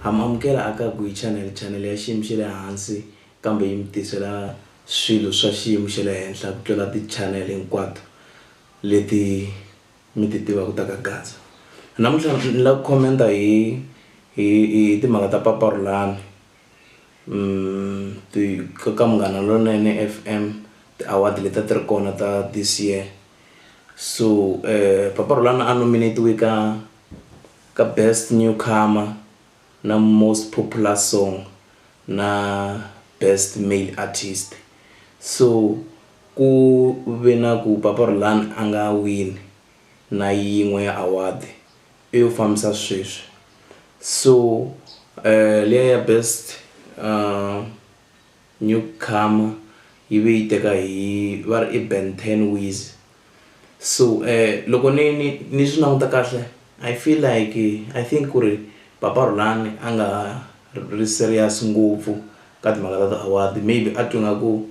Ha mi amukela a ka Guy Channel, chanele ya xiyimo xa le hansi kambe yi mi tisela swilo swa xiyimo xa le henhla ku tlula ti-channel hinkwato leti mi ti tivaka ta ka Gaza. Namuntlha ni lava ku comment-a hi hi hi timhaka ta Papa Rhulani ti ka ka Munghana Lonene F_M ti-award leti a ti ri kona ta this year so Papa Rhulani a nominate-iwe ka. ka Best Newcomer na Most Popular Song na Best Male Artist so ku ve na ku Papa Rulan a nga wini na yin'we ya award i yo fambisa sweswi so liya ya Best Newcomer yi ve yi teka hi va ri i Ben ten Weezy. So loko ni ni ni swi languta kahle I feel like I think ku ri papa Rhulani a nga ha ri serious ngopfu ka timhaka ta ti-award maybe a twe nga ku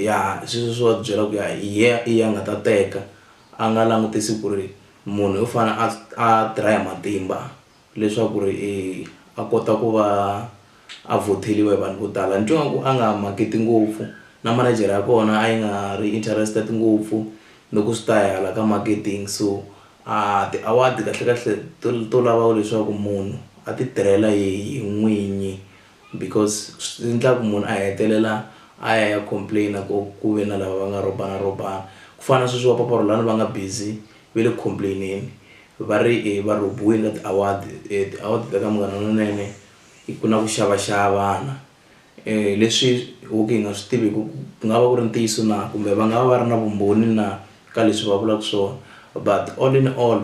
ya sweswiya swo va byela ku ya hi yehe i yena a nga ta teka a nga langutisi ku ri munhu u fane a a tirha hi matimba. leswaku ri e a kota ku va a vhotheliwa hi vanhu vo tala ni twa nga ku a nga market ngopfu na manejere ya kona a yi nga ri interested ngopfu loko swi ta hala ka marketing so a ti-award kahlekahle to to lava leswaku munhu a ti tirhela hi n'winyi. because swi endlaka munhu a hetelela a ya ya complain ku ku ve na lava va nga rhobana rhobana ku fana na sweswi va papa Rhulani va nga busy va le ku complain-eni va ri va rhobiwile ka ti-award ti-award ta ka Munghana Lonene ku na ku xavaxavana leswi ho ka hi nga swi tiviki ku ku nga va ku ri ntiyiso na kumbe va nga va va ri na vumbhoni na ka leswi va vulaka swona but all in all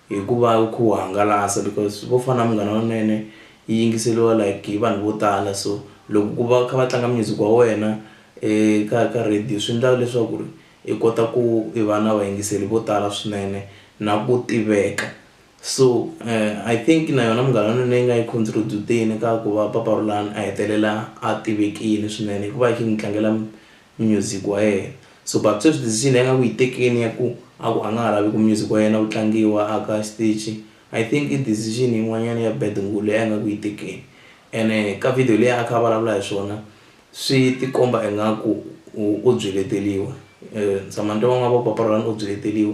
Hikuva ku hangalasa because vo fana na Munghana Lonene yi yingiseriwa like hi vanhu vo tala so loko ku va kha va tlanga music wa wena eka ka radio swi endla leswaku ri i kota ku i va na vayingiseri vo tala swinene na ku tiveka so I think na yona Munghana Lonene yi nga yi contribute-teni ka ku va Papa Rhulani a hetelela a tivekile swinene hikuva yi kha yi n'wi tlangela. munyuziki wa yena. So Baptist u decision ya nga ku yi tekeni ya ku a ku a nga ha lavi ku music wa yena wu tlangiwa a ka xitichi I think i decision yin'wanyana ya bad ngulu leyi a nga ku yi tekeni ene ka video leyi a kha a vulavula hi swona swi ti komba ingaku u byi leteliwa Samantha N'wangavoko papa Rhulani u byi leteliwa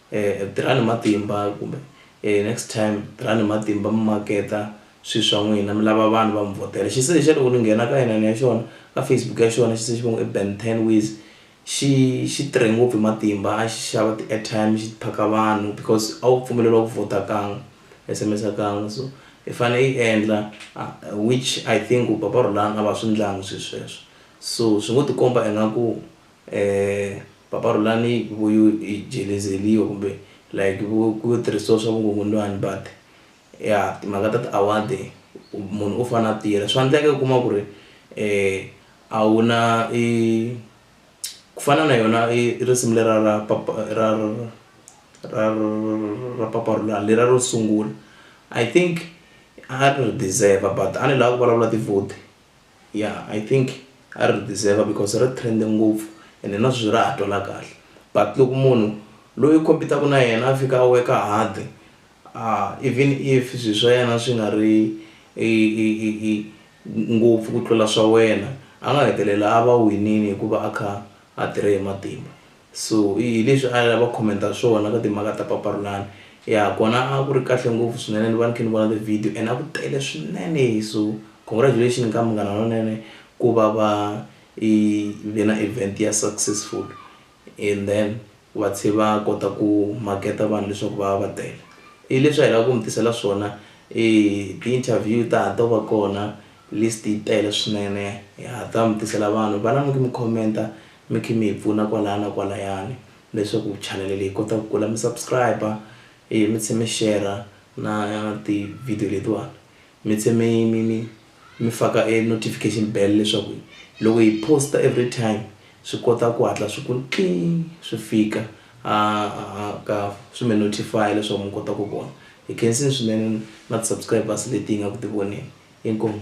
um tirhani hi matimba kumbe um next time tirhani hi matimba mi maketa swilo swa n'wina mi lava vanhu va mi vhotela xisesi lexiya loko ni nghena ka inani ya xona ka Facebook ya xona xisesi va ngo i Ben ten ways xi xi tirhe ngopfu hi matimba a xi xava ti airtime xi phaka vanhu because a wu pfumeleriwa ku vhota kan'we S_M_S kan'we so i fane i endla which I think ku papa Rhulani a va swi ndlangi swilo sweswo so swi ngo tikomba ingaku Eeh papa Rhulani hi ku i jelezeriwa kumbe like ku ku yo tirhisiwa swa vukungundzwani but ya timhaka ta ti award munhu u fane a tirha swa endleka u kuma ku ri a wu na i ku fana na yona i risimu lera ra papa ra ra ra papa Rhulani lera ro sungula I think a ri deserve but a ni lavi ku vulavula tivhuti. ya I think a ri deserve because ri trend ngopfu ene na sweswi ra ha twala kahle but loko munhu loyi u compete-aka na yena a fika a work-a hard even if swilo swa yena swi nga ri ngopfu ku tlula swa wena a nga hetelela a va winile hikuva a kha a tirhe hi matimba. So hi leswi a va comment-a swona ka timhaka ta Papa Rhulani. Ya kona a ku ri kahle ngopfu swinene ni va ni kha ni vona ti-video and a ku tele swinene so congratulations ka Munghana Lonene ku va va i ve na event ya successful and then va tlhe va kota ku maketa vanhu leswaku va va va tele. I leswi a hi lava ku mi tisela swona i ti-interview ta ha to va kona list yi tele swinene ha ta mi tisela vanhu vanani mi comment-a. Mi khi mi hi pfuna kwalaya na kwalayani leswaku chanele leyi kota ku kula mi subscribe e mi tlhe mi share na ti video letiwani mi tlhe mi mi mi mi faka e notification bell leswaku loko hi poster every time swi kota ku hatla swi ku swi fika a ka swi mi notify leswaku mi kota ku vona hi khensini swinene na ti subscribers leti hi nga ku ti voneni inkomu.